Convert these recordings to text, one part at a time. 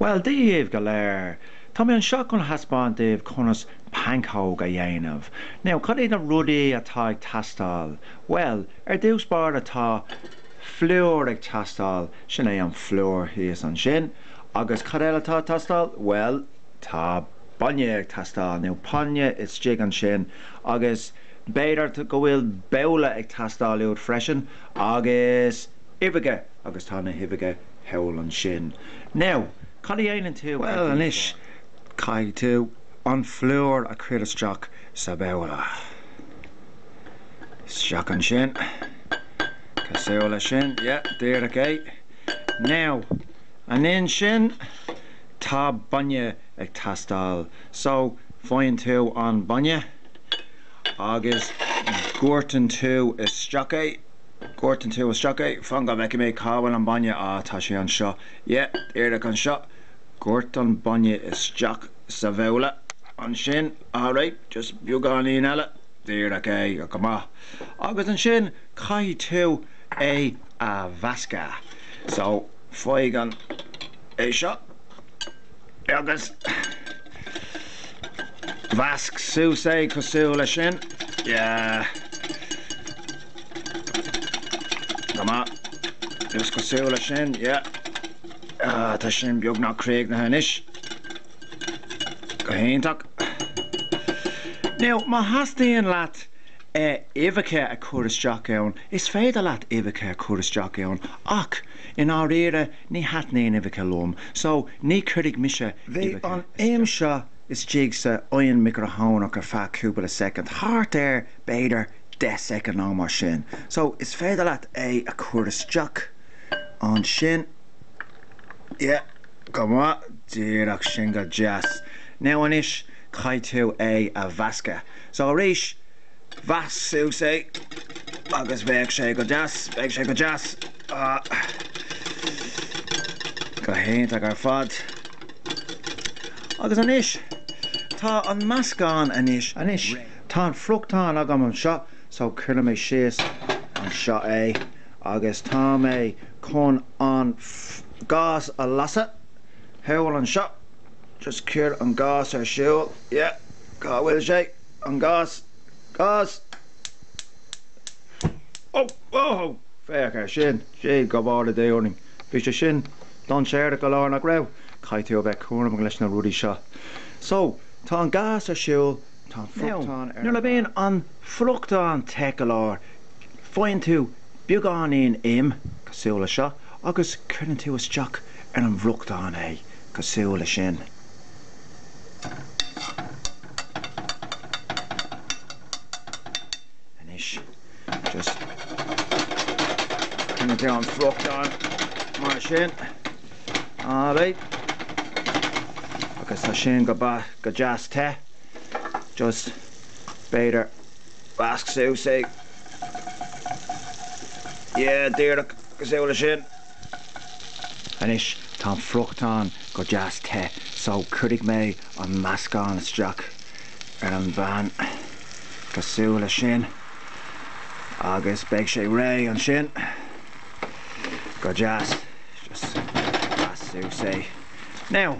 Bhuel, Dia daoibh go léir, tá mé anseo chun a thaispeáint daoibh conas pancóg a dhéanamh. Now, cad iad na rudaí atá ag teastáil? Bhuel, ar dtús báire tá phlúr ag teastáil, sin é an phlúr thíos ansin. Agus cad eile atá ag teastáil? Bhuel, tá bainne ag teastáil, now bainne istigh ansin agus b'fhéidir go bhfuil babhla ag teastáil uait freisin agus uibheacha. Agus tá na huibheacha thall ansin. Now, cad a dhéanann tú ar dtús? Bhuel anois, caithfidh tú an phlúr a chur isteach sa babhla. Isteach ansin. Cosúil leis sin. Yeah, díreach é. Now, ansin, tá bainne ag teastáil. So, faigheann tú an bainne agus doirteann tú isteach é. Doirteann tú isteach é. Fan go bhfeicfidh mé cá bhfuil an bainne. Á, tá sé anseo. Yeah, díreach anseo. Doirt an bainne isteach sa bhabhla. Ansin, alright, just beagáinín eile. Díreach é. Go maith. Agus ansin, caithfidh tú é a mheascadh. So, faigh an, é seo, agus mheasc suas é cosúil leis sin. Yeah. Go maith. Just cosúil leis sin, yeah. Tá sin beagnach críochnaithe anois. Go hiontach. Now, má theastaíonn leat uibheacha a chur isteach ann, is féidir leat uibheacha a chur isteach ann ach i ndáiríre ní thaitníonn uibheacha liom, so ní chuirfidh mise uibheacha isteach. Bhí an im seo istigh san oigheann micreathonnach ar feadh cúpla soicind, thart ar, b'fhéidir, 10 soicind nó mar sin. So, is féidir leat é a chur isteach ansin. Yeah, go maith, díreach sin go deas. Now anois, caithfidh tú é a mheascadh. So arís, mheasc suas é agus beidh sé go, beidh sé go deas. Ah, go hiontach ar fad. Agus anois, tá an meascán anois, anois. Tá an friochtán agam anseo so cuirfidh mé síos anseo é agus tá mé chun an gás a lasadh. Thall anseo, just cuir an gás ar siúl, yeah, cá bhfuil sé, an gás, gás, oh, oh, oh, féach ar sin, Dia go bhfóire orainn, bhí sé sin dainséarach go leor nach raibh? Caithfidh tú a bheith cúramach leis na rudaí seo. So, tá an gás ar siúl. Tá an friochtán ar an mbarr. Nuair a bhíonn an friochtán te go leor, faigheann tú beagáinín im, cosúil le seo, agus cuireann tú isteach ar an bhfriochtán é, cosúil le sin. Anois, just cuireann tú an friochtán mar sin. Alright. Agus tá sin go deas te. just b'fhéidir measc suas é yeah díreach cosúil le sin anois tá an friochtán go deas te so cuirfidh mé an meascán isteach ar an bpan cosúil le sin agus beidh sé réidh ansin go deas just measc suas é now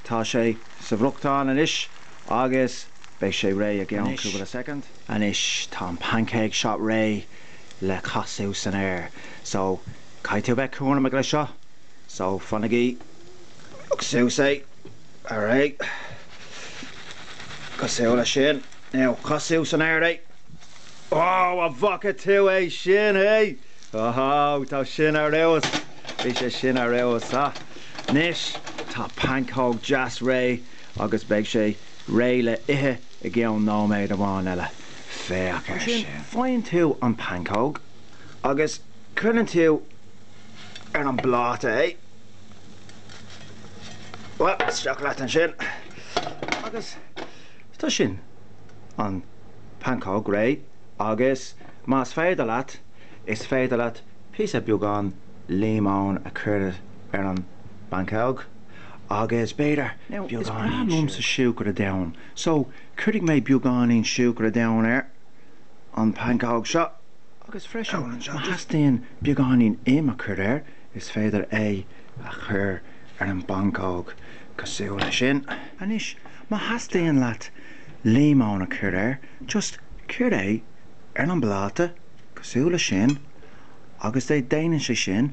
tá sé sa bhfriochtán anois agus beidh sé réidh i gceann cúpla soicind. Anois tá an pancóg seo réidh le casadh san aer so caithfidh tú a bheith cúramach le seo so fanaigí agus suas é a ré cosúil le sin. Now casadh san aer é. Oh a bhfaca tú é sin hé! Ohoo bhí sé sin ar fheabhas bhí sé sin ar fheabhas ah. Anois tá pancóg dheas réidh agus beidh sé réidh le ithe i gceann nóiméad amháin eile. Féach ar sin. Ansin faigheann tú an pancóg agus cuireann tú ar an bpláta é. Bhuel, isteach leat ansin agus tá sin, an pancóg réidh agus más féidir leat, is féidir leat píosa beagán líomóin a chur. ar an bpancóg agus b'fhéidir beagáinín liomsa siúcra donn. So, cuirfidh mé beagáinín siúcra donn ar an bpancóg seo agus freisin má theastaíonn beagáinín im a chur air, is féidir é a chur ar an bpancóg cosúil le sin. Anois, má theastaíonn leat líomóin a chur air, just cuir é ar an bpláta cosúil le sin agus déanann sé sin.